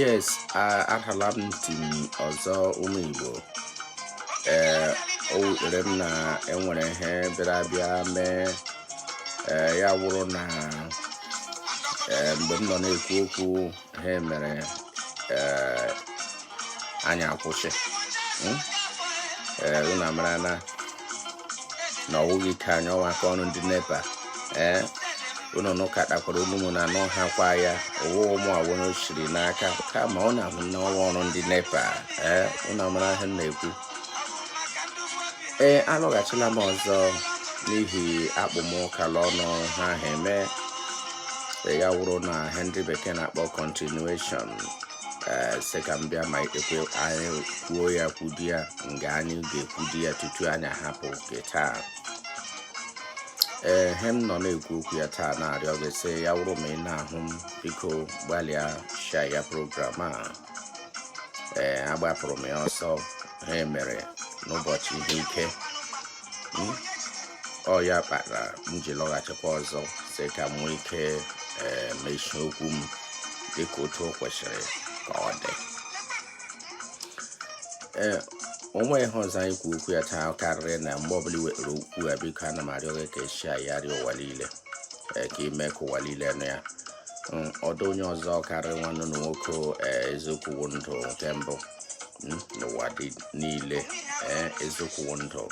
yes arhala m ntị m ọzọ ụmụ igbo ee o wutere m na enwere ihe bịara bịa mee ee ya wụrụ na ee mgbe m nọ na-ekwu okwu ha mere ee anyị akwụsị hmm? ee unu amara na na ọ wụghị ike anyị ọ wụ aka ọrụ ndị nepa ee unu nụkatakwara olu mụ na anụhakwa ya owu ụmụ awụrụ siri n'aka kama ọ na-ahụ na ọ wụ ọrụ ndị nepa ee unu amara ihe m na-ekwu ee alọghachila m ọzọ n'ihi akpụ m ụka l'ọnụ ihe ahụ eme ya wụrụ na ihe ndị bekee na-akpọ continuation ee sị ka m bịa mee ka anyị kwuo ya kwudi ya nga anyị ga-ekwudi ya tutu anyị ahapụ nke taa ee he m nọ na-ekwu okwu ya taa na-arịọ gị sị ya wụrụ ma ị na-ahụ m biko gbalịa share ya program a ee agbapụrụ m ya ọsọ ha mere n'ụbọchị ihe ike hmm? ọ ya kpatara m ji lọghachikwa ọzọ sị ka m nwee ike ee mechie okwu m dịka otu o kwesịrị ka ọ dị ee o nwe ihe ọzọ anyị kwu okwu ya taa karịrị na mgbe ọbụla i wetara okwu ya biko ana m arịọ gị ka i share yarị ụwa niile ee ka i mee ka ụwa niile nụ ya mm, ọ dụ onye ọzọ karịrị nwanne unu nwoke ee eziokwu wụ ndụ nke mbụ mm, n'ụwa dum niile ee eziokwu wụ ndụ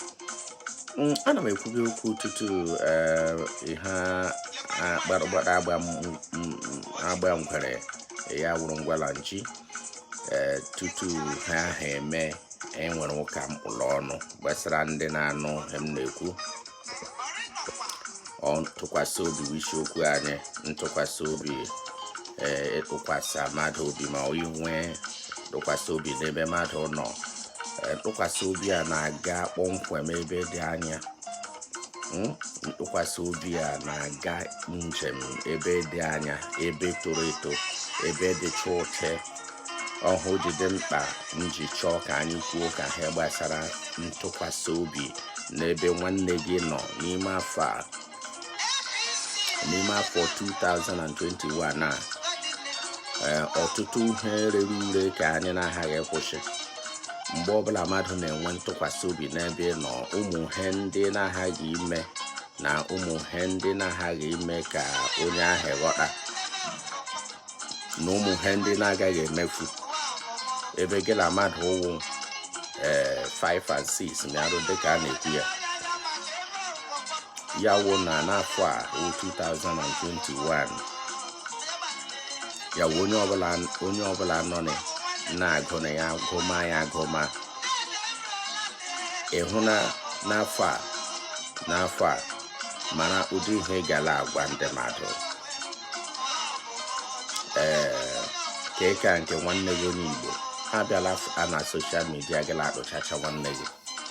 mm, ana m ekwubi okwu tutu ee ihe akparagbada agba ngwere ya wụrụ ngwala nchi tutu ihe ahụ eme enwere ụka m kpụ l'ọnụ gbasara ndị na-anụ ihe m na-ekwu ntụkwasị obi wụ isiokwu anyị ntụkwasị obi ịtụkwasị mmadụ obi ma inwe ntụkwasị obi n'ebe mmadụ nọ ntụkwasị obi a na-aga kpọmkwem ebe dị anya hmm? ntụkwasị obi a na-aga njem ebe dị anya ebe toro eto ebe dị chụọche ọhụ ji dị mkpa m ji chọọ ka anyị kwuo ụka a gbasara ntụkwasị obi n'ebe nwanne gị nọ n'ime afọ a n'ime afọ 2021 a ọtụtụ ihe rere ure ka anyị na-aghaghị ịkwụsị mgbe ọbụla mmadụ na-enwe ntụkwasị obi n'ebe ị nọ ụmụ ihe ndị na-aghaghị ime na ụmụ ihe ndị na-aghaghị ime ka onye ahụ ghọta na ụmụ ihe ndị na-agaghị emefu ebe gị na mmadụ wụ ee 5 and 6 mịarụ dịka a na-ekwu ya ya wụ na n'afọ a wụ 2021 ya wụ onye ọbụla onye ọbụla nọ na-agụ na ya gụma ya agụma ịhụ na n'afọ a n'afọ a mara ụdị ihe ị ga na-agwa ndị mmadụ ee ka ịka nke nwanne gị onye Igbo ha bịala na social media gala akpụchacha nwanne gị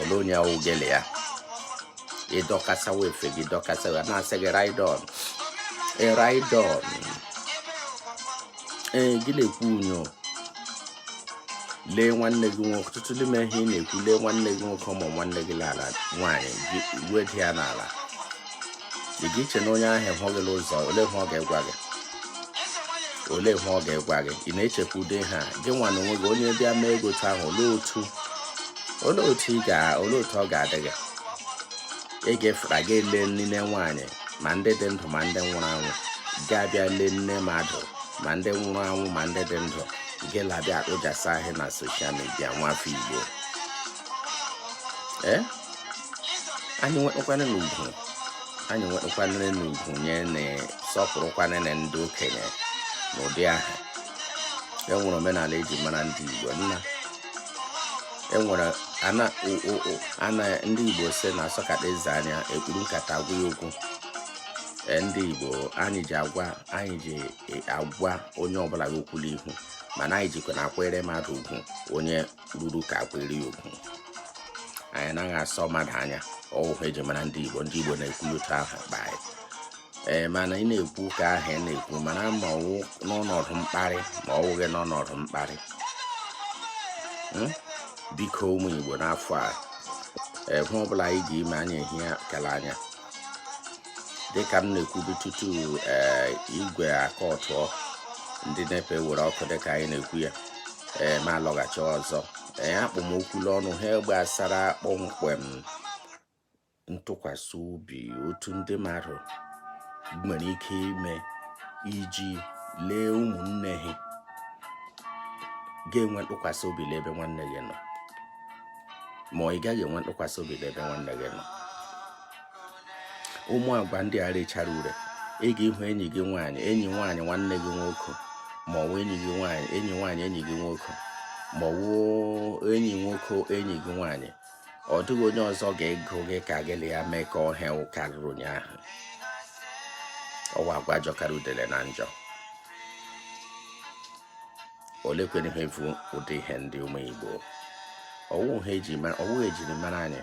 olee onye ahụ ga-ele ya ịdọkasawa efe gị dọkasawa na-asị gị ride on ride on ee gị na-ekwu unyo lee nwanne gị nwoke ọtụtụ n'ime ihe ị na-ekwu lee nwanne gị nwoke ma nwanne gị n'ala nwaanyị gị weda ya n'ala ị ga iche na onye ahụ hụ gị n'ụzọ olee ihe ọ ga-egwa gị olee ihe ọ ga-egwa gị ị na-echekwa ụdị ahụ gị nwa n'onwe gị onye bịa mee gị otu ahụ olee otu olee otu ị ga olee otu ọ ga-adị gị ị ga-efụta gị ele nne nwaanyị ma ndị dị ndụ ma ndị nwụrụ anwụ gị abịa lee nne mmadụ ma ndị nwụrụ anwụ ma ndị dị ndụ gị labịa akpụjasa ahịa na social media nwafọ Igbo ee eh? anyị nwekwanụnụ ugwu anyị nwekwanụnụ ugwu anyị na-asọpụrụkwanụnụ ndị okenye n'ụdị ahụ enwere omenala eji mara ndị Igbo nna enwere ana ndị Igbo si na asọkata eze anya ekpuru nkata agwa ya okwu e, ndị Igbo anyị ji agwa anyị ji e, agwa onye ọbụla eziokwu n'ihu mana anyị jikwa na-akwanyere mmadụ ugwu onye ruru ka a kwanyere ya ugwu anyị naghị asọ mmadụ anya ọ wụ ihe eji mara ndị Igbo ndị Igbo na-ekwu otu ahụ akpa anyị ee mana ị na-ekwu ka ahụ ị na-ekwu mana ma ọ wụ n'ọnọdụ mkparị ma ọ wụghị n'ọnọdụ mkparị hmm? biko ụmụ Igbo n'afọ a ihe ọbụla anyị ga-ime anyị ehie aka n'anya dịka m na-ekwubu tutu eh, igwe aka ọtụọ ndị NEPA were ọkụ dịka anyị na-ekwu ya eh, ma lọghachi ọzọ ee eh, akpụ m okwu n'ọnụ ihe gbasara kpọmkwem ntụkwasị obi otu ndị mmadụ nwere ike ime iji lee ụmụnne ha ị ga-enwe ntụkwasị obi n'ebe nwanne gị nọ ma ị gaghị enwe ntụkwasị obi n'ebe nwanne gị nọ ụmụ agwa ndị a rechara ure ị ga-ịhụ enyi gị nwaanyị enyi nwaanyị nwanne gị nwoke ma ọ bụ enyi gị nwaanyị enyi nwaanyị enyi gị nwoke ma ọ bụ enyi nwoke enyi gị nwaanyị ọ dịghị onye ọzọ ga-agụ gị ka gị na ya mekọọ ihe karịrị onye ahụ ọwụ agwa jọkara udele na njọ olekwere ihe bụ ụdị ihe ndị ụmụ Igbo ọwụ ha eji mara ọwụ ejiri mara anyị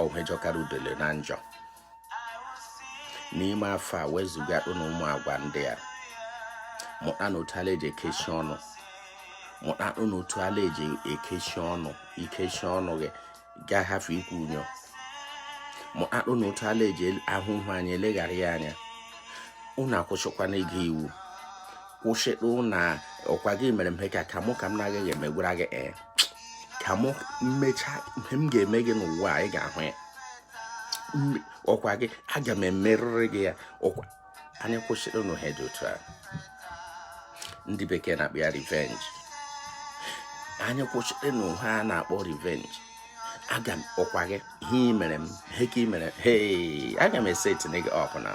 ọhwe jọkara udele na njọ n'ime afọ a wezụganụ ụmụ agwa ndị a mụtanụ otu a la-eji ekechi ọnụ mụta ụnụ otu ala eji ekechi ọnụ ikechi ọnụ gị gị ahafụ ikwu unyo mụta ụnụ otu ala eji ahụ ihe anya eleghara ya anya ụnụ akwụsịkwana ịga iwu kwụsịtụnụ ọkwa gị mere m ihe ka ka mụ ka m na-agaghị emegwara gị ee ka m mechaa ihe m ga-eme gị n'ụwa ị ga-ahụ ya ọkwa gị aga m emerịrị gị ya ọkwa anyị kwụsịrịnụ ihe dị otu a ndị bekee na-akpọ ya revenge anyị kwụsịrịnụ ihe a na-akpọ revenge aga m ọkwa gị ihe ị mere m he ka ị mere he aga m esetinye gị up na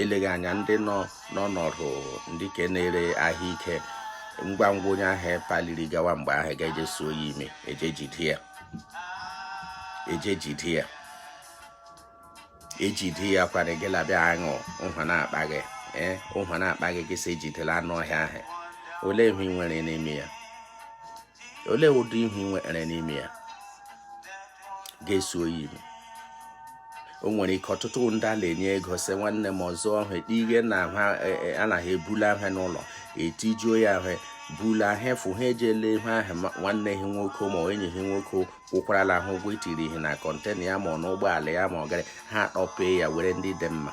eleghị anya ndị nọ n'ọnọdụ ndị ke na-ere ahịa ike ngwa ngwa onye ahụ apaliri gawa mgbe ahụ gị eje suo ya imi eje jide ya eje jide ya ejide ya kwara gị labịa aṅụ ụhwa na-akpa gị ee ụhwa na-akpa gị gị sị ejidela anụ ọhịa ahụ olee ihe ị nwere n'ime ya olee ụdị ihe ị nwere n'ime ya ga-esuo ya imi o nwere ike ọtụtụ ndị a na-enye ego sị nwanne m ọzọ ọhụ ekpe ihe na e, e, anaghị ebula ihe n'ụlọ etijuo ya ihe bula ihe efu ha ejele ihe ahụ nwanne ha nwoke ma enyi ha nwoke kwụkwarala ha ụgwọ itiri ihe na container ya ma ọ n'ụgbọala ya ma ọ gara ha akpọpee ya were ndị dị mma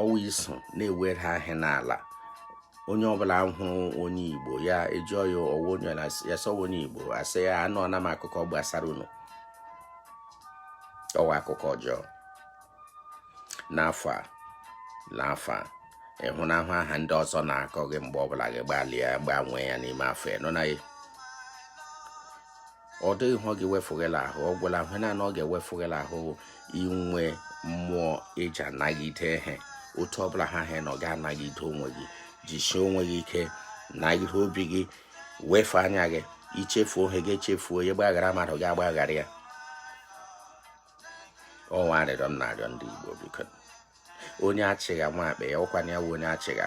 ọwụ iso na-ewere aha n'ala onye ọbụla hụrụ onye igbo ya ajụọ ya ọwụ onye ya sị ọwụ onye igbo asị ya anụọna m akụkọ gbasara unu ọwụ akụkọ ọjọọ n'afọ a n'afọ a ịhụnahụ aha ndị ọzọ na-akọ gị mgbe ọbụla gị gbalịa gbanwee ya n'ime afọ ị nọ na ọ dịghị ihe ọ ga-ewefu gị l'ahụ ọ gwụla ahụ naanị ọ ga-ewefu gị l'ahụ inwe mmụọ eji anagide ihe otu ọbụla ha ha nọ gị anagide onwe gị jisie onwe gị ike nagide obi gị wefe anya gị ichefuo ihe gị echefuo ya gbaghara mmadụ gị agbaghara ya ọwụ arịrịọ m na-arịọ ndị Igbo biko onye achịgha nwa akpa ya ọkwana ya onye achịgha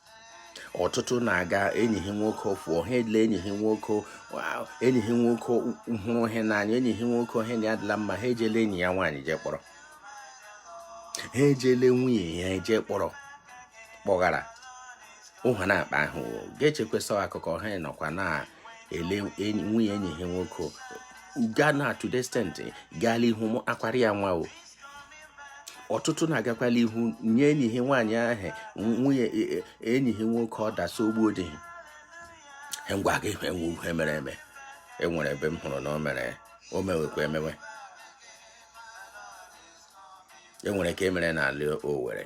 ọtụtụ na-aga enyi ha nwoke fụọ ha edile enyi ha nwoke enyi ha nwoke hụrụ ha n'anya enyi ha nwoke ha na adịla mma ha ejele enyi ya nwaanyị jee kpọrọ ha ejele nwunye ya ejee kpọrọ kpọghara ụha na-akpa ahụ ga-echekwesị akụkọ ha nọkwa na-ele nwunye enyi ha nwoke gaa na to the extent gaala ihu akwara ya nwa o ọtụtụ na-agakwala ihu nye enyi ha nwaanyị ahụ nwunye e, e, enyi ha nwoke order sị o gbuo di ha ihe m gwa gị wụ ihe mere eme enwere ebe m hụrụ na o mere o mewekwa emewe enwere nke mere n'ala Owerri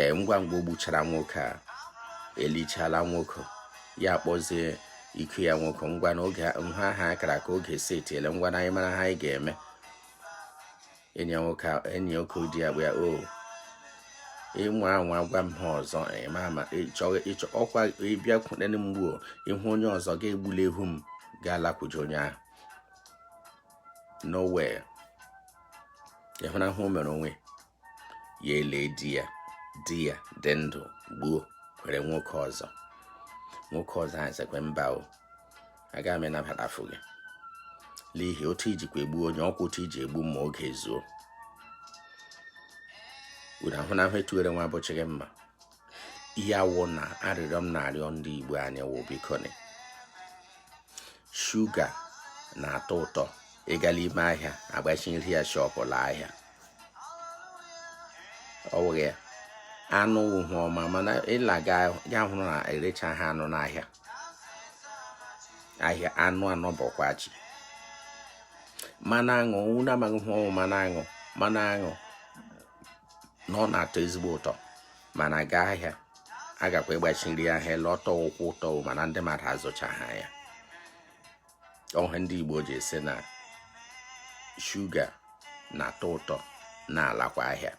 ee ngwa ngwa o gbuchara nwoke a elichala nwoke ya kpọzie iko ya nwoke ngwa na oge ahụ ha kara aka oge setiele ngwanụ anyị mara ihe anyị ga-eme enyi nwoke enyi nwoke di ya bụ ya o oh, ịnwa anwa gwa m ihe ọzọ ọkwa ịbịakwute m gbuo ịhụ onye ọzọ ga-egbula ihu m ga-alakwuje onye ahụ nowhere ịhụna ihe o mere onwe ya elee di ya di ya dị ndụ gbuo were nwoke ọzọ nwoke ọzọ ahụ sịkwa mba o aga m ịnabatafụ gị n'ihi otu ijikwa egbu onye ọkwa otu iji egbu m ma oge zuo unu ahụnahụ etuwere nwa abụchịghị mma ya wụ na arịrịọ m na-arịọ ndị Igbo anyị wụ bikoni shuga na-atọ ụtọ ịga la ime ahịa agbachiri ya shọpụ la ahịa ọ wụghị ya anụ wụ ihe ọma mana ịla ya hụrụ na erechaha anụ n'ahịa ahịa anụ anọ bọkwa chi mmanụ aṅụ unu amaghị ihe ọ wụ mmanụ aṅụ mmanụ aṅụ na ọ na-atọ ezigbo ụtọ mana gaa ahịa a gakwa ịgbachiri ahịa la ọ tọkwa ụtọ mana ndị mmadụ azụchaha ya ọ ihe ndị Igbo ji asị na shuga na-atọ ụtọ na-alakwa ahịa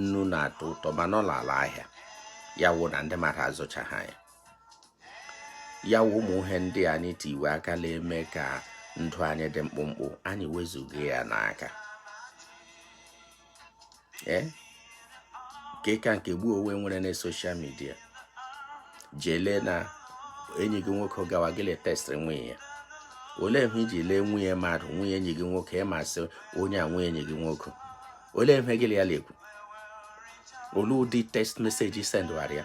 nnu na-atọ ụtọ mana ọ lala ahịa ya wụ na ndị mmadụ azụchaha ya ya wụ ụmụ ihe ndị anyị tiwe aka na-eme ka ndụ anyị dị mkpụmkpụ anyị wezụga ya n'aka ee nke ka nke ugbu a e nwere na social media jele na enyi gị nwoke gawa gị la-etextịrị nwunye ya olee ihe iji lee nwunye mmadụ nwunye enyi gị nwoke ị ma sị onye a nwunye enyi gị nwoke olee ihe gị la ya la-ekwu olee ụdị text message ị sendụghara ya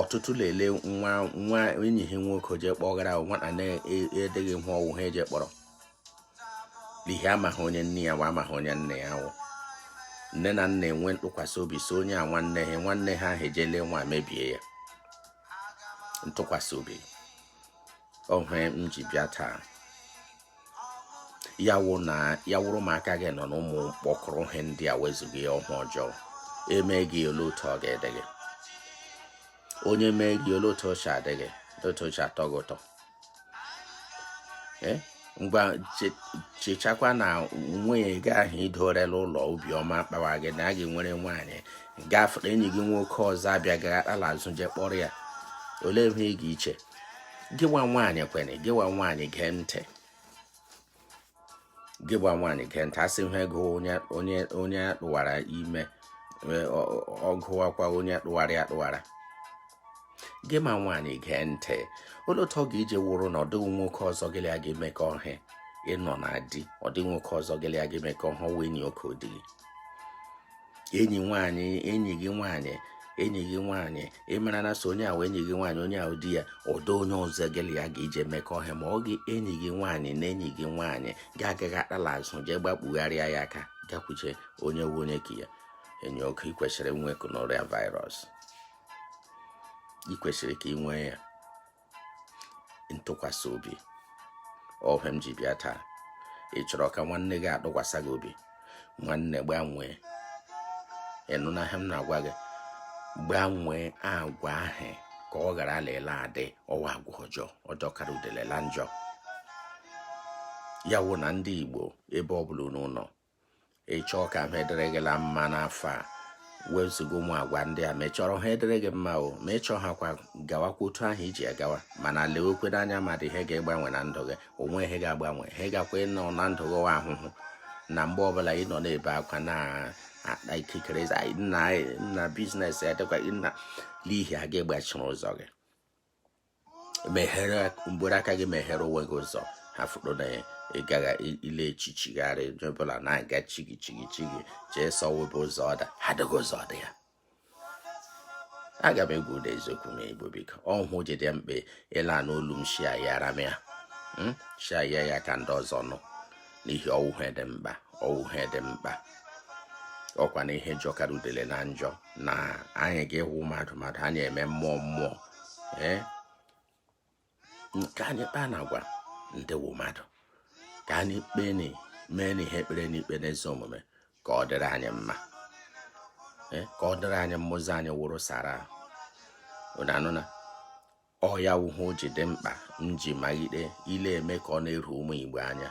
ọtụtụ lele nwa nwa enyi ha nwoke jee kpọgara nwata na-adịghị ihe ọ wụ ha eje kpọrọ n'ihi amaghị onye nne ya wụ amaghị onye nna ya wụ nne na nna enwe ntụkwasị obi sọ onye a nwanne ha nwanne ha ahụ ejele nwa mebie ya ntụkwasị obi ọ ihe m ji bịa taa ya wụ na ya wụrụ ma aka gị nọ n'ụmụ mkpọkọrọ ihe ndị a wezụga ya ọ ihe ọjọọ e mee gị olee otu ọ ga-adị gị onye mee gị olee otu o che adị gị otu o che atọ gị ụtọ eh? ngwa chechakwa na nwunye gị ahụ i dore la ụlọ obi ọma akpawa gị na a gị nwere nwaanyị gafere enyi gị nwoke ọzọ abịa gara azụ jee kpọrọ ya olee ihe ị ga-iche gịwa nwaanyị kwene gịwa nwaanyị gee ntị gịwa nwaanyị gee ntị a sị ihe gụọ onye onye onye tụwara ime e, ọ gụwakwa onye tụwara ya tụwara gị ma nwaanyị gee ntị olee otu ọ ga ije wụrụ na ọ dịghị nwoke ọzọ gị la ya ga-emekọ ihe ị nọ na di ọ dịghị nwoke ọzọ gị la ya ga-emekọ ihe wụ enyi oke ọ di enyi nwaanyị enyi gị nwaanyị enyi gị nwaanyị ị mara na sọ onye ahụ enyi gị nwaanyị onye ahụ di ya ọ dịghị onye ọzọ gị la ya ga ije mekọ ihe ma ọghị enyi gị nwaanyị na enyi gị nwaanyị ga agaghị akpala azụ jee gbakpugharịa ya aka gakwuche onye wụ enyi oke ya enyi oke i kwesịrị inwe gonorrhea virus i kwesịrị ka i nwee ya ntụkwasị obi ọ ihe m ji bịa taa ị chọrọ ka nwanne gị atụkwasị gị obi nwanne gbanwee ị nụna ihe m na-agwa gị gbanwee agwa ahụ ka ọ ghara lele adị ọ wụ agwa ọjọọ ọ jọkarị udele la njọ ya wụ na ndị Igbo ebe ọ bụla unu nọ ị chọọ ka ihe dịrị gị la mma n'afọ a wezụga ụmụ agwa ndị a ma ị chọrọ ihe dịrị gị mma o ma ị chọghịkwa gawakwa otu ahụ i ji agawa mana lewekwa anya ma ọ dị ihe ga-egbanwe na ndụ gị o nwe ihe ga-agbanwe ihe gakwa ịnọ na ndụ gị ahụhụ na mgbe ọbụla ị nọ na-ebe akwa na akpa ikikere nna business ya dịkwa nna n'ihi a ga-egbachiri ụzọ gị meghere mgbere aka gị meghere onwe gị ụzọ ha fụrụ na ya ị gaghị ile echichigharị onye ọbụla na-aga chigi chigi chigi jee sọwe ebe ụzọ dị ha dịghị ụzọ dị ya aga m agwa unu eziokwu ụmụ Igbo biko ọ ihe o ji dị mkpa ị la-anụ olu m share ya ara m ya hmm? share ya ya ka ndị ọzọ nụ n'ihi ọ wụ ihe dị mkpa ọ wụ ihe dị mkpa ọkwa na ihe jọkara udele na njọ na anyị ga-awụ mmadụ mmadụ anyị eme mmụọ mmụọ ee ka anyị kpaa na agwa ndị wụ mmadụ ka anyị kpee na mee na ihe e kpere n'ikpe n'ezi omume ka ọ dịrị anyị mma ka ọ dịrị anyị mma ụzọ anyị wụrụ sara unu anụna ọ ya wụ ihe o ji dị mkpa m ji malite ile eme ka ọ na-eru ụmụ Igbo anya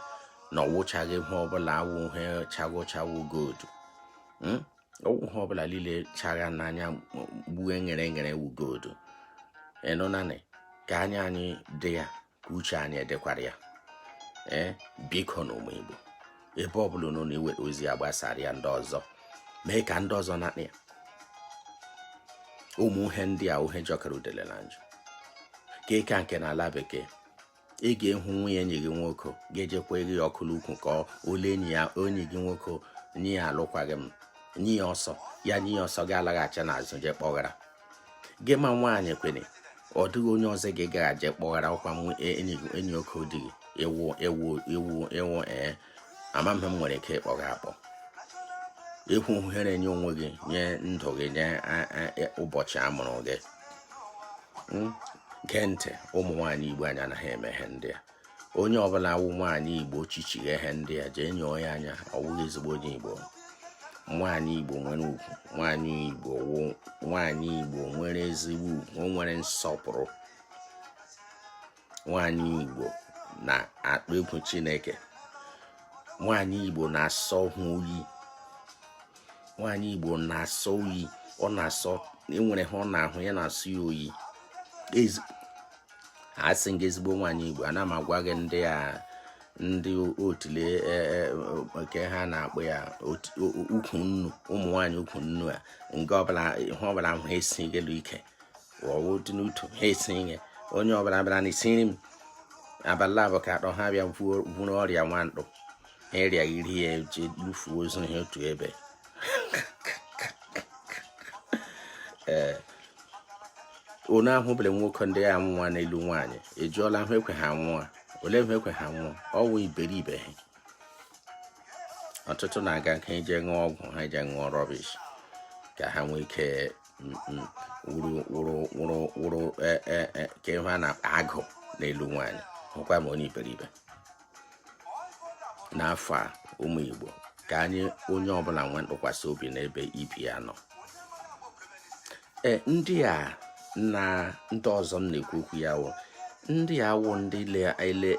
na ọ wụchaghị ihe ọbụla wụ ihe chagha ọcha wụ gold hmm? ọ wụghị ihe ọbụla niile chagha n'anya gbue nghere nghere wụ gold ị nụna nị ka anya anyị dị ya ka uche anyị dịkwara ya ee eh? biko na ụmụ Igbo ebe ọ bụla unu na-eweta ozi a gbasara ya ndị ọzọ mee ka ndị ọzọ nụ ya ụmụ ihe ndị a wụ ihe jọkara udele na njọ ka ịka nke na ala bekee ị ga-ahụ nwunye enyi gị nwoke ga-ejekwa gị ọkụ n'ukwu ka ole enyi ya enyi gị nwoke nye ya alụkwaghị m nye ya ọsọ ya nye ya ọsọ gị alaghachi n'azụ jee kpọghara gị ma nwaanyị kwere ọ dịghị onye ọzọ gị ga-aje kpọghara ọkwa e, enyi oke di gị ewu ewu ewu ewu ee amaghị m ihe m nwere ike ịkpọ gị akpọ ị wụ ihere nye onwe gị nye ndụ gị nye e, ụbọchị a mụrụ gị hmm? gee ntị ụmụ nwaanyị igbo anyị anaghị eme ihe ndị a onye ọbụla wụ nwaanyị igbo chichighe ihe ndị a jee nyọọ ya anya ọ wụghị ezigbo onye igbo nwaanyị igbo nwere ugwu nwaanyị igbo nwere ezigbo ugwu o nwere nsọpụrụ nwaanyị igbo na-akpa egwu chineke nwaanyị igbo na-asọ oyi nwaanyị igbo na-asọ oyi ọ na-asọ e nwere ihe ọ na-ahụ ya na-asọ ya oyi asị m gị ezigbo nwaanyị igbo ana m agwa gị ndị a ndị otule e, e, nke ha na-akpọ ya ukwu nnu ụmụ nwaanyị ukwu nnu a nke ọbụla ihe ọbụla ahụ ha esi gị ike ọ wụ dị n'utu ha esi ihe onye ọbụla bịara na isiri m abalị abụọ ka atọ ha bịa buru ọrịa nwandụ ịrịa iri ya eji lufuo ozu ha otu ebe ee eh, unu ahụbere nwoke ndị ya anwụ n'elu nwaanyị ajụọla ihe ekwe ha nwụọ olee ihe ekwe ha nwụọ ọnwụ iberibe ha ọtụtụ na-aga ka eje ṅụọ ọgwụ ha eje ṅụọ rubbish ka ha nwee ike mm, mm, wụrụ e, e, e, ka ihe a na-akpọ agụ n'elu nwaanyị hụkwa ma onye iberibe n'afọ a ụmụ Igbo ka anyị onye ọbụla nwee ntụkwasị obi n'ebe ibe ya nọ e, ndị a na ndị ọzọ m na-ekwu okwu ya wụ ndị a wụ ndị ele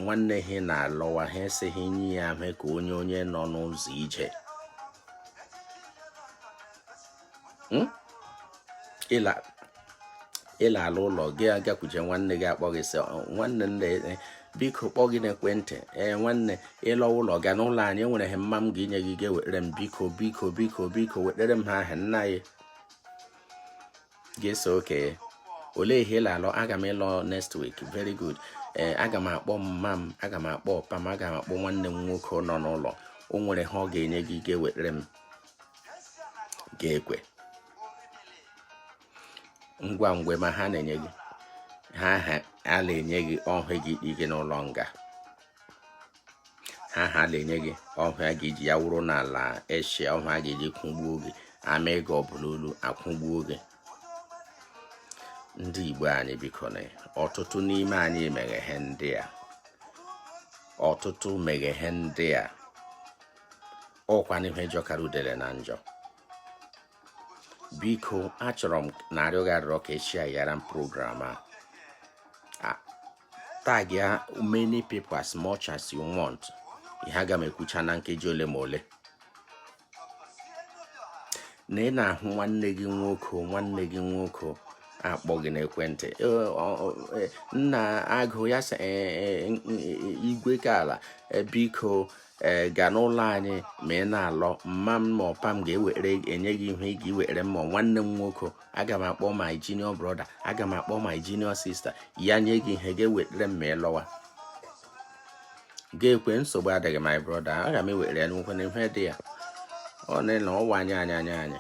nwanne ha na-alọwa ha asị gị nye ya mee ka onye onye nọ n'ụzọ ije hmm? ị la-ala ụlọ gị agakwuje nwanne gị akpọ gị sị nwanne nne e, biko kpọ gị n'ekwentị ee nwanne ịlọ ụlọ ga n'ụlọ anyị e nwere ihe mma m ga inye gị ị ga-ewetara m biko biko biko biko wetara m ihe ahụ nna anyị gị asị okay olee ihe ị la-alọ aga m ịlọ next week very good ee eh, aga m akpọ mma m aga m akpọ mpa m aga m akpọ nwanne m nwoke nọ n'ụlọ o nwere ihe ọ ga-enye gị ị ga-ewetara m ga-ekwe ngwa ngwa ị ma ihe ha na-enye gị ihe ha na-enye gị ọ ihe gị ike n'ụlọ nga ihe ha na-enye gị ọ ihe a ga-eji ya wụrụ n'ala Asia ọ ihe a ga-eji kwụgbuo gị ama gị agbụ n'olu akwụgbuo gị ndị Igbo anyị biko na ọtụtụ n'ime anyị meghe ihe ndị a ọtụtụ meghe ihe ndị a ọkwa n'ihe jọkara udele na njọ biko achọrọ m na-arịọ gị arịrịọ ka ị share-ra m program a tag ya many people as much as you want ihe aga m ekwucha na nkeji ole ma ole na ị na-ahụ nwanne gị nwoke nwanne gị nwoke akpọ gị n'ekwentị nna agụ ya sị igwe ka ala biko ee eh, ga n'ụlọ anyị ma ị na-alọ mma m ma mpa m ga-ewere enye gị ihe ị ga-ewere m ma nwanne m nwoke aga m akpọ my junior brother aga m akpọ my junior sister ya nye gị ihe ị ga-ewetara m ma ị lọwa gị ekwe nsogbu adịghị my brother aga m ewere ya n'ukwu na ihe dị ya ọ na na ọwa anyị anya anya anyị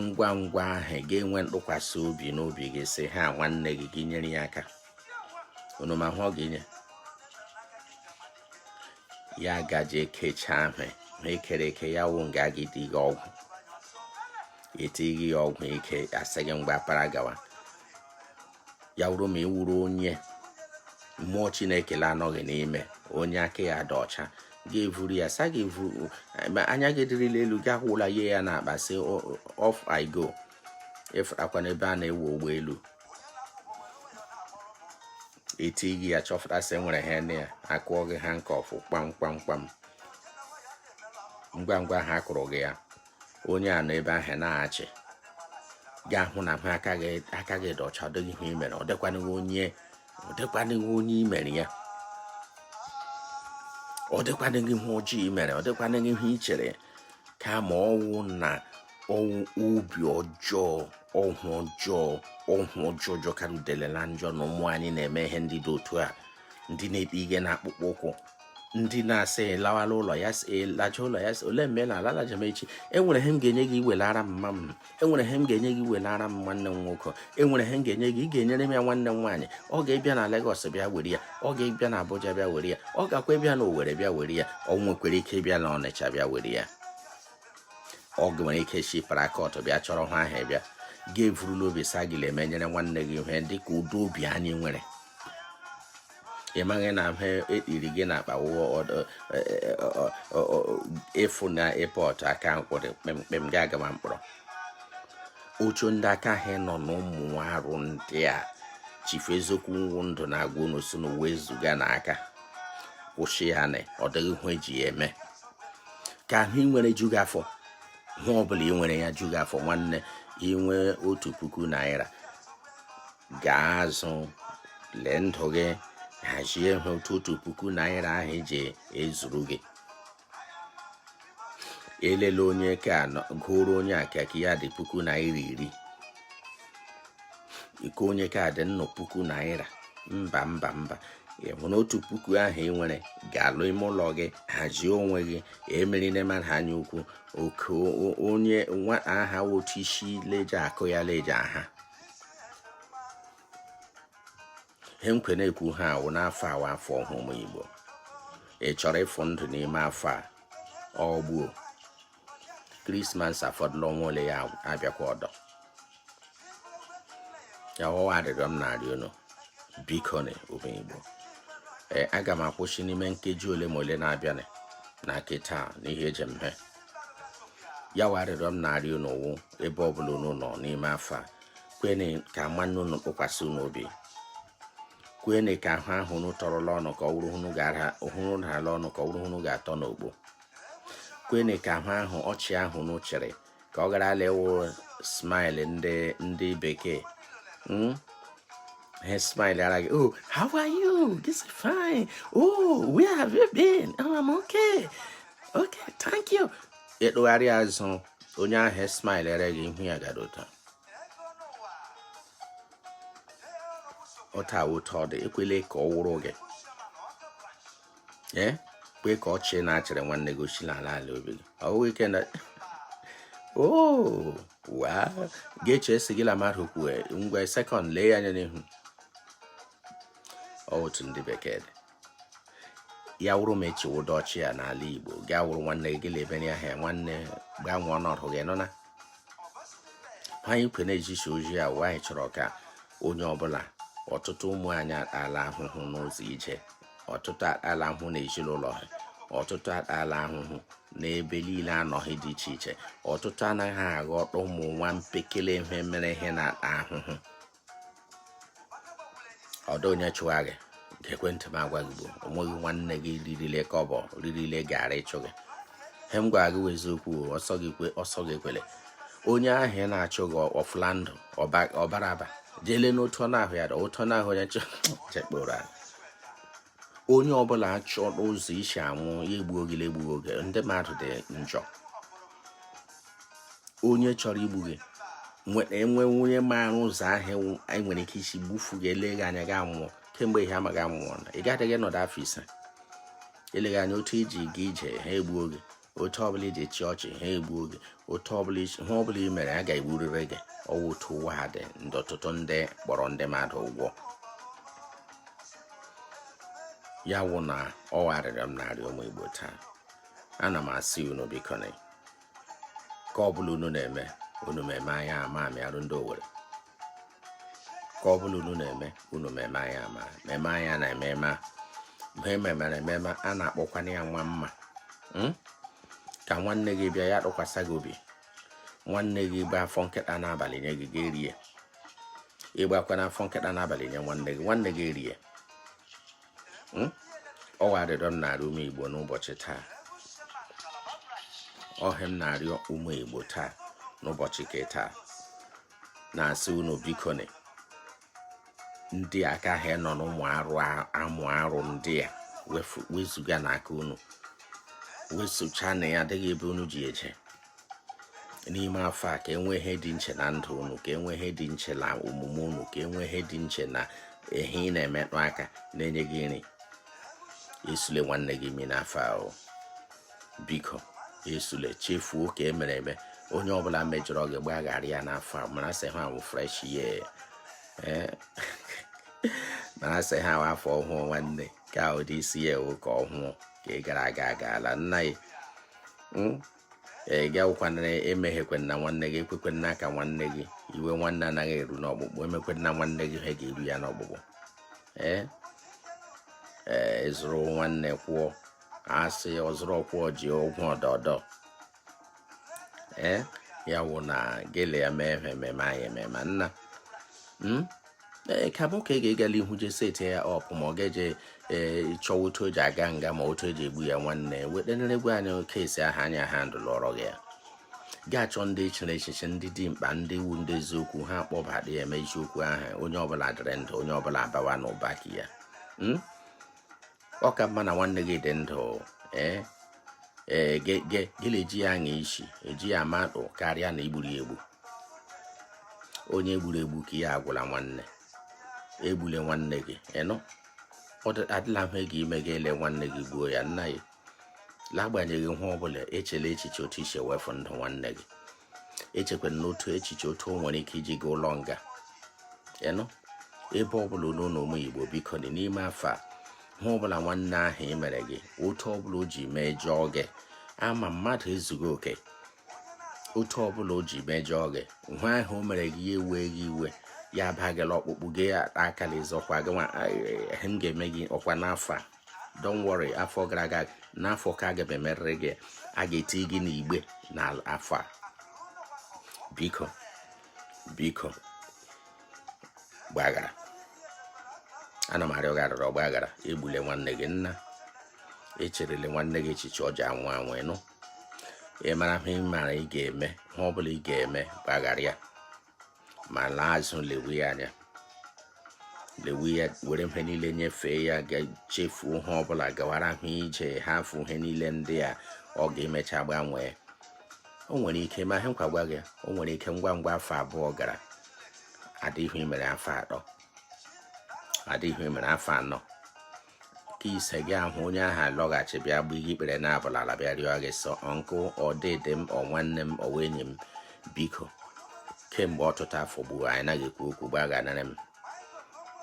ngwa ngwa ahụ gị enwee ntụkwasị obi n'obi gị sị ha nwanne gị gị nyere ya aka unu ma ihe ọ ga-enye ya gaje ekecha ihe ma ekere eke ya wụ nga gị dị gị ọgwụ etinye ya ọgwụ ike asị gị ngwa para gawa ya wụrụ ma ị wụrụ onye mmụọ Chineke la-anọghị n'ime onye aka ya dị ọcha gị evuru ya sa gị evuru anya gị dịrịla elu gị akwụla ya ya n'akpa sị off i go ịfụtakwa n'ebe a na-ewu ụgbọelu etie gị ya chọfụta sị nwere ihe na ya akụọ gị ha nke ọfụ kpam kpam kpam ngwa ngwa ha kụrụ gị ya onye a nọ ebe ahụ na-achị ga-ahụ na aka gị dị ọcha ọdịghị ihe imere ọ dịkwanịghị onye ọ dịkwanịghị onye imere ya ọ dịkwanịghị ihe ojii imere ọ dịkwanịghị ihe ichere kama ọ wụ na ọ wụ obi ọjọọ ọhụ ọjọọ ọhụ ọjọọ jọkarị udele na njọ na ụmụ anyị na-eme ihe ndị dị otu a ndị na-ekpe ihe na akpụkpọ ụkwụ ndị na-asị lawala ụlọ ya laja ụlọ ya si ole mgbe na ala laja m echi enwere ihe m ga-enye gị iwelara m mma m enwere ihe m ga-enye gị iwelara m nwanne m nwoke enwere ihe m ga-enye gị ị ga-enyere m ya nwanne m nwaanyị ọ ga-ebịa na Lagos bịa were ya ọ ga-ebịa na Abuja bịa were ya ọ gakwa ịbịa na Owerri bịa were ya ọ nwekwara ike ịbịa na Ọnịcha bịa were ya ọ nwere ike si Port Harcourt bịa chọrọ ihe ahụ bịa gị evurula obi sị gị emenyere nwanne gị ihe dị ka ụdị obi anyị nwere ị maghị na ha ekpiri gị na akpa ịfụ na airport aka mkpụrụ kpemkpem gị agama mkpọrọ otu ndị aka ha nọ na ụmụ arụ ndị a chifu eziokwu wụ ndụ na-agwa unu si unu wezuganụ aka kwụsị ya na ọ dịghị ihe eji ya eme ka ihe ị nwere ju gị afọ ihe ọbụla ị nwere ya ju gị afọ nwanne inwe otu puku naira gaa azụ lee ndụ gị hazie ha otu otu puku naira ahụ eji ezuru gị elela onye ka gụrụ onye aka nke ya dị puku naira iri iko onye aka dị nnụ puku naira mba mba mba ịhụ na otu puku ahụ ị nwere ga-alụ ime ụlọ gị hazie onwe gị emerine mmadụ anya ukwu oke onye nwa aha otu isi leje akụ ya leje aha ihe nke e na-ekwu ha wụ n'afọ a wụ afọ ọhụrụ ụmụ igbo ị chọrọ ịfụ ndụ n'ime afọ a ugbua krismas afọdụla ọnwa ole ya abịakwa ọdọ ya wụ arịrịọ m na-arịọ unu bikonụ ụmụ igbo ee aga m akwụsị n'ime nkeji ole ma ole na-abịanụ kịta n'ihe eji mhe ya wụ arịrịọ m na-arịọ unu wụ ebe ọbụla unu nọ n'ime afọ a kwene ka nwanne unu tụkwasị unu obi kwene ka ahụ ahụ unu tọrọla ọnụ ka ọ wụrụ unu ga-ara ọnụ ka ọ wụrụ unu ga-atọ n'ogbo kwene ka ahụ ahụ ọchị ahụ unu chịrị ka ọ gharala ịwụ smile ndị ndị bekee hmm? ha smile ara gị oh how are you this is fine oh where have you been oh i'm okay okay thank you ị tụgharịa azụ onye ahụ smile ara gị ihu ya gara ụtọ ọta ụtọ dị ekwele ka ọ wụrụ gị ee kwe ka ọchị ị na-achịrị nwanne gị o si n'ala ala obi gị ọ bụghị ike na wa ga-eche esi gị la mmadụ kwue ngwa sekọnd lee ya anya n'ihu otu ndị bekee dị ya wụrụ ma echiwodo ọchị ya n'ala igbo gaa wụrụ nwanne gị gịla ebere ahịa nwanne gbanwee ọnọdụ gị nọ na anyị kwe na-ejichi ozi a wụ anyị chọrọ ka onye ọbụla ọtụtụ ụmụ anyị atala ahụhụ n'ụzọ ije ọtụtụ atala ahụhụ na ezinụlọ ha ọtụtụ atala ahụhụ n'ebe niile ha nọga dị iche iche ọtụtụ anaghị aghọta ụmụ nwa mpekele ihe mere ihe na-ata ahụhụ ọdọ onye chụwa gị ekwentị m agwa gị bụ onweghị nwanne gị ririle kọbọ ririle gara ịchụ gị he m gwara gị eziokwu ọsọ gị kwe ọsọ gị kwere onye ahụ ị na-achụ gị ọfụla ndụ ọbara aba jeele n'otu ọ na-ahụ ya ụtọ na-ahụ onye chekpụrụ onye ọbụla achọrọ ụzọ ị si anwụ ya egbuo gị la egbughị oge ndị mmadụ dị njọ onye chọrọ igbu gị nweta enwe onye maara ụzọ ahụ anyị nwere ike isi gbufu gị eleghị anya gị anwụọ kemgbe ihe amaghị anwụọ na ị gaghị nọdụ afọ ise eleghị anya otu i ji ga ije ha egbuo gị otu ọbụla i ji chịa ọchị ha egbuo gị otu ọbụla ihe ọbụla i mere a ga-egburịrị gị ọ wụ otu ụwa a dị ndị ọtụtụ ndị kpọrọ ndị mmadụ ụgwụ ya wụ na ọ wụ arịrịọ m na-arịọ ụmụ igbo taa ana m asị unu bikonụ ke ọ bụla unu na-eme unu meme anya ama amịarụ ndị owere ke ọ bụla unu na-eme unu meme anyị ama meme anyị na ememe a mgbe ememere ememe a na-akpọkwana ya nwa mma hmm? ka nwanne gị bịa ya tụkwasị gị obi nwanne gị gba afọ nkịta n'abalị nye gị gị erie ị gbakwana afọ nkịta n'abalị nye nwanne gị nwanne gị erie hmm? ọ wụ arịrịọ m na-arịọ ụmụ igbo n'ụbọchị taa ọ ihe m na-arịọ ụmụ igbo taa n'ụbọchị ke taa na-asị unu bikoni ndị aka ha nọ n'ụmụ arụ ụmụ arụ ndị a wezuganụ aka unu wesocha na ya adịghị ebe unu ji eje n'ime afọ a ka e nwee ihe dị nche na ndụ unu ka e nwee ihe dị nche na omume unu ka e nwee ihe dị nche na ihe ị na-emetụ aka na-enye gị nri esule nwanne gị imi n'afọ ahụ biko esule chefuo nke e mere eme onye ọbụla mejọrọ gị gbaghara ya n'afọ a mara sị ihe a wụ fresh year eh? mara sị ihe a wụ afọ ọhụụ nwanne ka ụdị isi ya ewu ka ọhụụ nke gara aga agaala nna ya hmm? ee gị awụkwanara emeghekwana nwanne gị ekwekwana ka nwanne gị iwe nwanne anaghị eru n'ọkpụkpụ emekwana nwanne gị ihe ga-eru ya n'ọkpụkpụ ee ee zụrụ nwanne kwụọ a sị ọ zụrụ ọ kwụọ ji ụgwọ ọdọdọ ee eh, ya wụ na gị ele ya mee ememe anyị ememe nna hmm? ee eh, ka mụ ka ị ga-egala ihu je set ya up ma ọ ga-eje eh, chọwa otu o ji aga nga ma otu eji egbu ya nwanne wetenere gwa anyị kesi ahụ anya ha ndụ lụọrọ gị ya ga-achọ ndị echere echiche ndị dị mkpa ndị wụ ndị eziokwu ha kpọbara ya eme eziokwu ahụ onye ọbụla dịrị ndụ onye ọbụla abawa n'ụba nke ya hmm? ọ ka mma na nwanne gị dị ndụ ee ee gị na-eji ya aṅa isi eji ya ama ndụ karịa na i gburu ya egbu onye e gburu egbu nke ya agwụla nwanne egbule nwanne gị ịnụ adịla ihe ga-eme gị ele nwanne gị gbuo ya nna ya n'agbanyeghị ihe ọ bụla echela echiche otu i si ewefu ndụ nwanne gị echekwana n'otu echiche otu o nwere ike iji gaa ụlọ nga ịnụ ebe ọbụla unu nọ ụmụ Igbo bikonụ n'ime afọ a ihe ọbụla nwanne ahụ mere gị otu ọbụla o ji mejọọ gị a ma mmadụ ezughị oke otu ọbụla o ji mejọọ gị ihe ahụ o mere gị ya ewe gị iwe ya abagala ọkpụkpụ gị ya akala sị ọkwa gị nwa m ga-eme gị ọkwa n'afọ a don't worry afọ gara aga n'afọ ka aga m emerịrị gị a ga-eti gị n'igbe n'afọ a biko biko gbaghara ana m arịọ gị arịrịọ gbaghara egbule nwanne gị nna echerele nwanne gị echiche ọjọọ anwụ anwụ ịnụ ị mara ihe ị mara ị ga-eme ihe ọ bụla ị ga-eme gbaghara ya ma laa azụ lewe ya anya lewe ya were ihe niile nyefee ya gị echefuo ihe ọbụla gawara ha ije hafụ ihe niile ndị a ọ ga-emecha gbanwee o nwere ike ma ihe nkwa gwa gị o nwere ike ngwa ngwa afọ abụọ gara adịghị ihe mere afọ atọ adịghị ihe mere afọ anọ nke ise gị ahụ onye ahụ alọghachi bịa gba ihe ikpere naabọ n'ala bịa rịọ gị sị uncle ọ dede m ọ nwanne m ọ wụ enyi m biko kemgbe ọtụtụ afọ ugbu a anyị anaghị ekwu okwu gbagharara m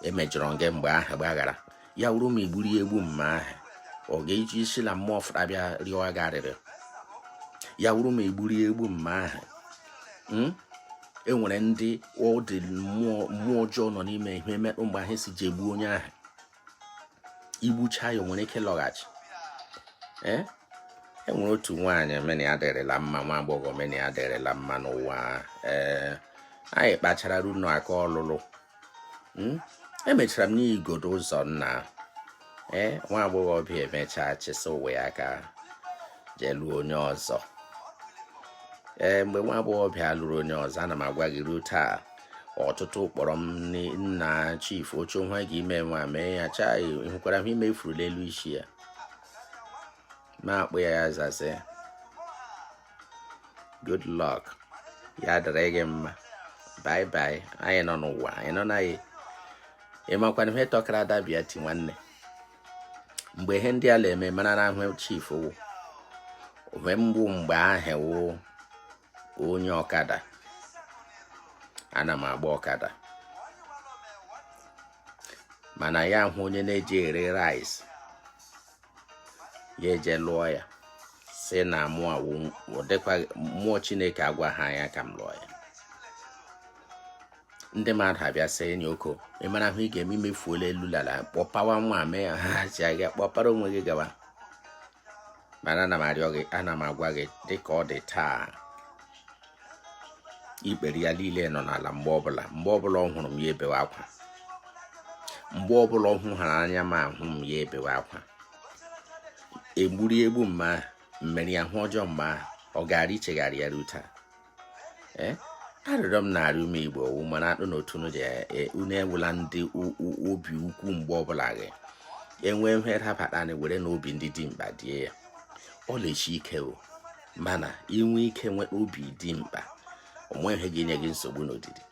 emejọrọ m gị mgbe ahụ gbaghara ya wụrụ ma i gburu ya egbu mma ahụ ọ ga-eji si na mmụọ fụta bịa rịọ gị arịrịọ ya wụrụ ma i gburu ya egbu mma ahụ hmm? e nwere ndị ọ dị mmụọ ọjọọ nọ n'ime ihe mekpụ mgbe ahụ si ji egbu onye ahụ igbucha ya nwere ike lọghachi ee e nwere otu nwaanyị mụ na ya dịrịla mma nwa agbọghọ mụ na ya dịrịla mma n'ụwa ee anyị kpachara ruo n'aka ọlụlụ hmm? emechara m n'igodo ụzọ nna ee nwa agbọghọbịa emechaa chịsa ụwa ya aka jee lụọ onye ọzọ ee mgbe nwa agbọghọbịa lụrụ onye ọzọ ana m agwa gị ruo taa ọtụtụ kpọrọ m nna chief oche nwa ga ime nwa mee ya chaa hụkwara m ime ifuru n'elu isi ya na-akpụ ya ya zaze good luck ya dịrị gị mma bye bye anyị nọ n'ụwa anyị nọ na ya ị makwanụ ihe tọkara adabịa ti nwanne mgbe ihe ndị a na-eme mara na ahụ chief wụ mbụ mgbe ahụ wụ onye ọkada ana m agba ọkada mana ya hụ onye na-eje ere rice ya eje lụọ ya sị na mmụọ chineke agwaha ya ka m lụọ ya ndị mmadụ abịa sị enyi oko ị mara ihe ị ga-eme i mefuola elu la ala kpọpawa nwa mee ya ha ji aga kpọpara onwe gị gawa mana ana m arịọ gị ana m agwa gị dịka ọ dị taa ikpere ya niile nọ n'ala mgbe ọbụla mgbe ọbụla ọ hụrụ m ya ebewe akwa mgbe ọbụla ọ hụhara anya ma hụ m ya ebewe akwa e gburu ya egbu ma merụọ ya ahụ ọjọọ ma ọ gara ichegharị ya ruo taa eh? arịrịọ m na-arịọ ụmụ igbo ọ wụ mana akpụ na otu unu ji e, e, unu awụla ndị obi ukwu mgbe ọbụla gị enwee ihe dabata anyị werenụ obi ndị dimkpa die ya ọ na-echi ike o mana i nwee ike nwee obi dimkpa o nweghị ihe ga-enye gị nsogbu n'odidi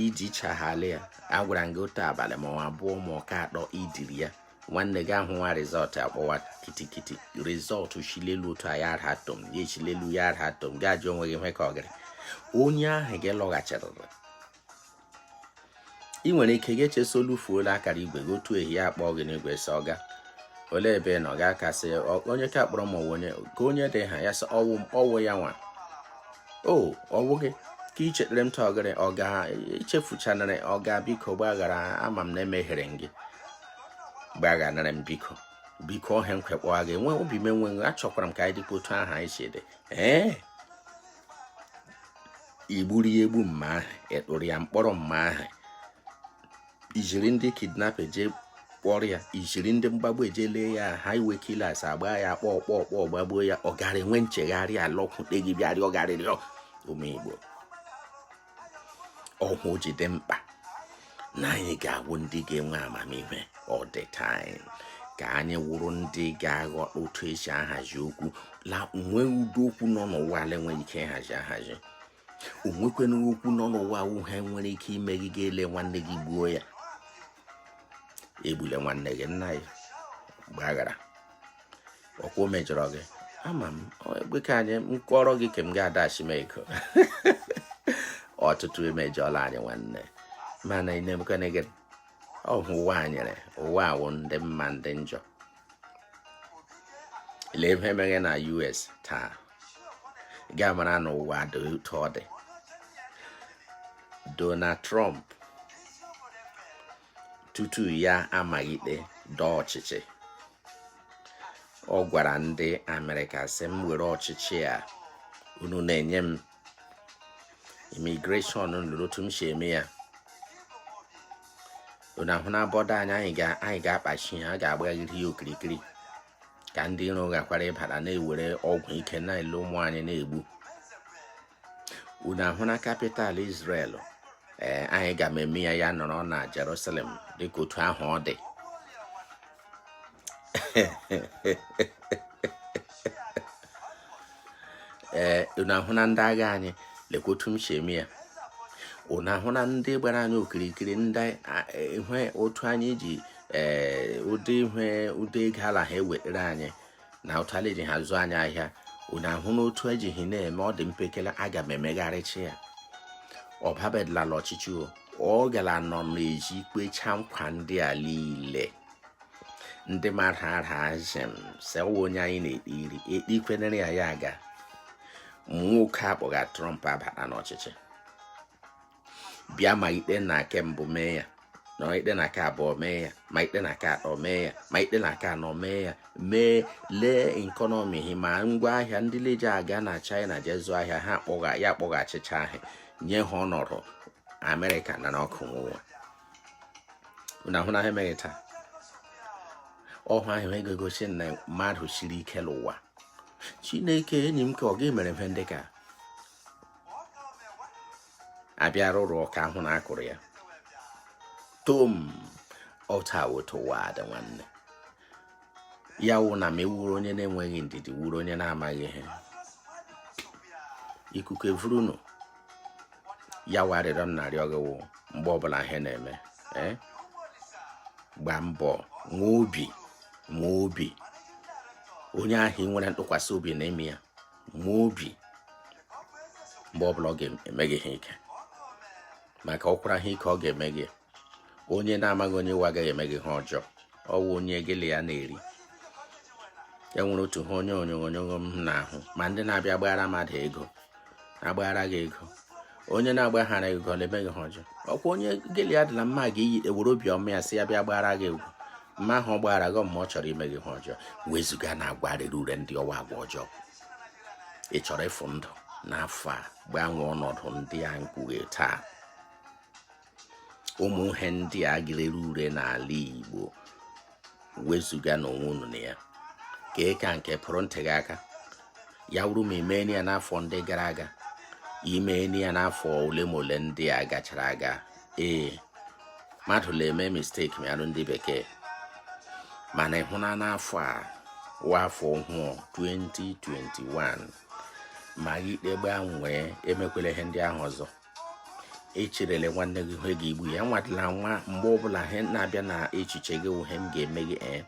iji chaghali ya agwara gị otu abalị ma ọ abụọ ma ọ ka atọ i diri ya nwanne gị ahụ nwa rizọtụ akpọwa kitikiti rizọtụ chilelu otu aya ara atom ya echilelu ya ara atom gị ajụ onwe gị nwe ka ọ gịrị onye ahụ gị lọghachirịrị ị nwere ike gị echesolu fuola akara igwe gị otu ehihie akpọọ gị n'igwe sị ọga olee ebe nọ ga kasị onye ka kpọrọ ma onye ka onye dị ha ya sị ọ wụ ya nwa o ọ bụghị ka i chetere m tọgịrị ọga i chefuchanarị ọga biko gbaghara ama m na emehiere m gị gbagharanụ m biko biko ohe m kwekpọwa gị nwe obi m enweghị achọkwara m ka anyị dịkwa otu ahụ anyị si dị ee i gburu ya egbu mma ahụ ị tụrụ ya mkpọrọ mma ahụ iziri ndị kidnap eje kpọrọ ya iziri ndị mgbagbu eje lee ya highway killers agba ya kpọkpọkpọ gbagbuo ya ọ gara enwe nchegharị alọkwute gị bịarị ọ garịrị ụmụ igbo ọhụ ji dị mkpa na anyị ga-awụ ndị ga-enwe amamihe all the time ka anyị wụrụ ndị ga-aghọta otu esi ahazi okwu la nwee ụdị okwu nọ n'ụwa a la enweghị ike ịhazi ahazi onwekwana okwu nọ n'ụwa wụ ihe nwere ike ime gị ga ele nwanne gị gbuo ya egbule nwanne gị nna ya gbaghara ọkwa o mejọrọ gị ama m egbe ka anyị m kọrọ gị ka m ga-adachi m ego ọtụtụ emejọla anyị nwanne mana ị na-emekwana gị ọhụ ụwa a nyere ụwa wụ ndị mma ndị njọ lee ihe mere na US taa ga mara na ụwa dị otu ọ dị Donald Trump tutu ya amaghịte dọọ ọchịchị ọ gwara ndị Amerịka sị m were ọchịchị a unu na-enye m immigration lele otu m si eme ya unu ahụna border anyị anyị ga-akpachi ya a ga-agbaghịrị ya okirikiri ka ndị iro ghakwara ịbata na-ewere ọgwụ ike na-ele ụmụ anyị na-egbu unu ahụna capital Israel ee eh, anyị ga-eme ya ya nọrọ na Jerusalem dịka otu ahụ ọ dị ee eh, unu ahụna ndị agha anyị lekwa otu m si eme ya unu ahụna ndị gbara anyị okirikiri ndị ihe otu anyị ji ee eh, ụdị ihe ụdị ego ala ha ewetara anyị na otu a la eji ha zụọ anyị ahịa unu ahụna otu ejighị na-eme ọ dị mpekele aga m emegharịcha ya ọ babedịla la ọchịchị ọ gara nọ n'ezi kpecha nkwa ndị a niile ndị mara ara azem sewa onye anyị na-ekpiri ekpikwenere ya ya aga nwoke a kpọga Trump abata n'ọchịchị bịa ma ikpe na nke mbụ mee ya na ikpe na nke abụọ mee ya ma ikpe na nke atọ mee ya ma ikpe na nke anọ mee ya mee lee economy ma ngwa ahịa ndị leje aga na China jee zụọ ahịa ha akpọghachicha ahịa nye ha ọnọdụ Amerịka na n'ọkụ nwa unu ahụna ha emeghị taa ọhụ ahụ egosi na mmadụ siri ike n'ụwa chineke enyi m ka ọ ga-emere mfe ndị ka abịa rụrụ ọka ahụ na akụrụ ya tom ọta wetowa ada nwanne ya wụ na ma ị wụrụ onye na-enweghị ndidi wụrụ onye na-amaghị ihe ikuku evurunu ya wụ arịrịọ m na-arịọ gị wụ mgbe ọbụla ihe na-eme eh? gba mbọ nwee obi nwee obi onye ahụ ị nwere ntụkwasị obi na ime ya ma obi mgbe ọbụla ọ ga-eme gị ihe ike maka ọkwara ihe ike ọ ga-eme gị onye na-amaghị onye ị wụ agaghị eme gị ihe ọjọọ ọ wụ onye gị la ya na-eri e nwere otu ihe onye onyonyo m na-ahụ ma ndị na-abịa gbaghara mmadụ ego na-agbaghara gị ego onye na-agbaghara gị ego la-eme gị ihe ọjọọ ọkwa onye gị la ya dị na mma ga-eyi ewere obi ọma ya si ya bịa gbara gị ego mma ahụ ọ gbara gị ma ọ chọrọ ime gị ihe ọjọọ wezuga na agwa rere ure ndị ọ wụ agwa ọjọọ ị chọrọ ịfụ ndụ n'afọ a gbanwee ọnọdụ ndị a m kpughe taa ụmụ ihe ndị a ga rere ure n'ala Igbo wezuga n'onwe unu na ya ka ị ka nke pụrụ ntị gị aka ya wụrụ ma i mee ya n'afọ ndị gara aga i mee ya n'afọ ole ma ole ndị a gachara aga ee mmadụ na-eme mistake mịarụ ndị bekee mana ị hụna n'afọ a wụ afọ ọhụụ 2021 ma ikpe gbanwee emekwela ihe ndị ahụ ọzọ echerele nwanne gị ihe ga-egbu ya nwadịla nwa mgbe ọbụla ihe na-abịa na echiche gị ihe m ga-eme gị eh,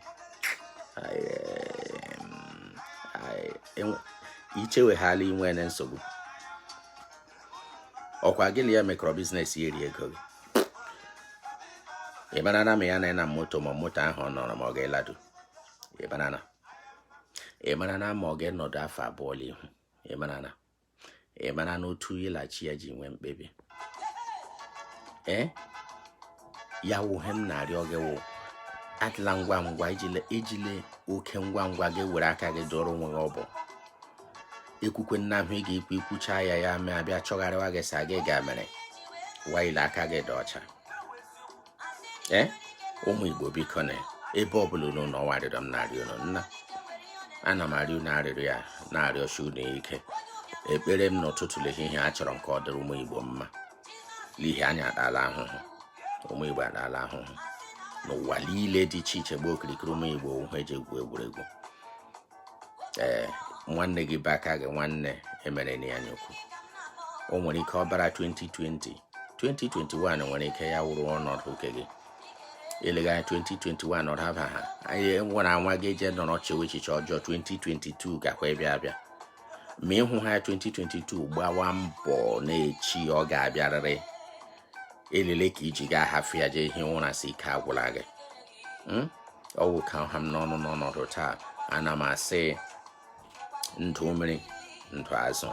icheweghala inwe na nsogbu ọkwa gị na ya mekọrọ business ya eri ego gị ị mara na ma ya na na moto ma moto ahụ ọ nọrọ ma ọ ga-eladu ị mara na ị mara na ma ọ ga-enọdụ afọ abụọ n'ihu ị mara na ị mara na otu ya la chi ya ji nwee mkpebi ee ya wụ ihe m na-arịọ gị wụ adịla ngwa ngwa ejile oke ngwa ngwa gị were aka gị dọrọ onwe gị ọ bụ ekwukwe nna ahụ ị ga-ekwu i kwucha ya ya mee a bịa chọgharịwa gị sị gị ga mere while aka gị dị ọcha ee ụmụ igbo biko na ebe ọbụla unu nọ ọ wụ arịrịọ m na-arịọ unu nna ana m arịọ unu arịrịọ ya na-arịọsi unu ike ekpere m n'ụtụtụ la ehihie achọrọ m ka ọ dịrị ụmụ igbo mma n'ihi anyị atala ahụhụ ụmụ igbo atala ahụhụ n'ụwa niile dị iche iche gbaa okirikiri ụmụ igbo wụ e ji egwu egwuregwu ee nwanne gị be aka gị nwanne emere na ya nyekwu o nwere ike ọbara 2020 2021 nwere ike ya wụrụ ọnọdụ nke gị eleghị anya 2021 ọ daba ha anyị nwere anwa gị eje nọrọ chewe echiche ọjọọ 2022 gakwa ịbịa abịa ma ịhụ ha 2022 gbawa mbọ na echi ọ ga-abịarịrị elele ka i ji ga-ahafụ ya jee hie ụra sị ike agwụla gị hmm? ọ wụ ka ọ ha m n'ọnụ n'ọnọdụ taa ana m asị ndụ mmiri ndụ azụ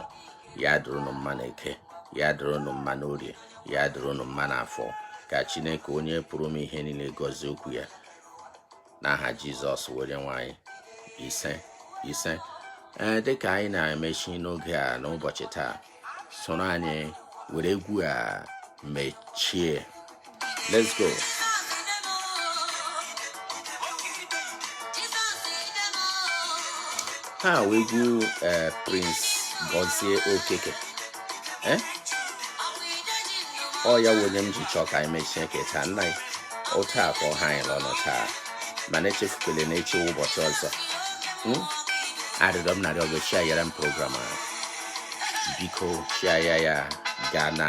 ya dịrị unu mma na eke ya dịrị unu mma na orie ya dịrị unu mma na afọ ka chineke onye pụrụ ime ihe niile gọzie okwu ya n'aha jizọs wụ onye nwe anyị ise ise ee eh, dịka anyị na-emechi n'oge a n'ụbọchị taa soro anyị were egwu a mechie let's go ha wee egwu eh, Prince Gozie Okeke eh? ọ ya wụ onye m ji chọọ ka anyị mechie nke taa nna anyị otu a ka ọ ha anyị n'ọnụ taa mana echefukwele na echi wụ ụbọchị ọzọ hmm? arịrịọ m na-arịọ bụ share yara m program a biko share ya ya gaa na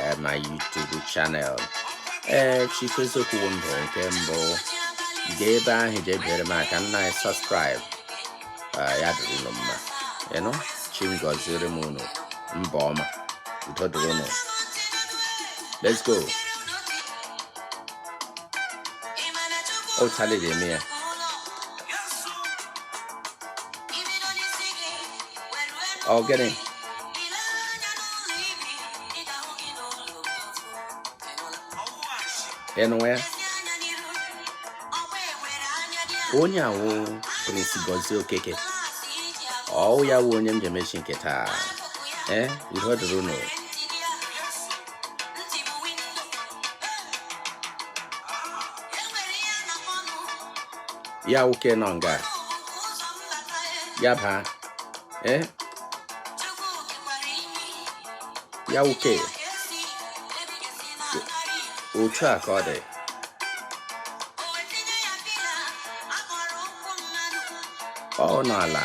eh, my YouTube channel ee eh, Chief Eziokwu Ndụ nke mbụ gaa ebe ahụ jee biere m aka nna anyị subscribe eh, ya dịrị unu mma ịnụ chi m gọziere m unu mba ọma udo dịrị unu let's go o challenge eme ya ọ gịnị ị nụ ya onye a wụ Prince Gozie Okeke ọ ya wụ onye m ji emechi nke taa ee udo dịrị unu ya nwoke nọ nga ya baa ee ya nwoke otu a ka ọ dị ọ nọ ala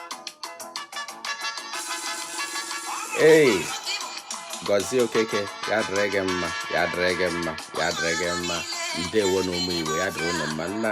ei Gozie Okeke ya dịrị gị mma ya dịrị gị mma ya dịrị gị mma ndewo nụ ụmụ igbo ya dịrị ụnụ mma nna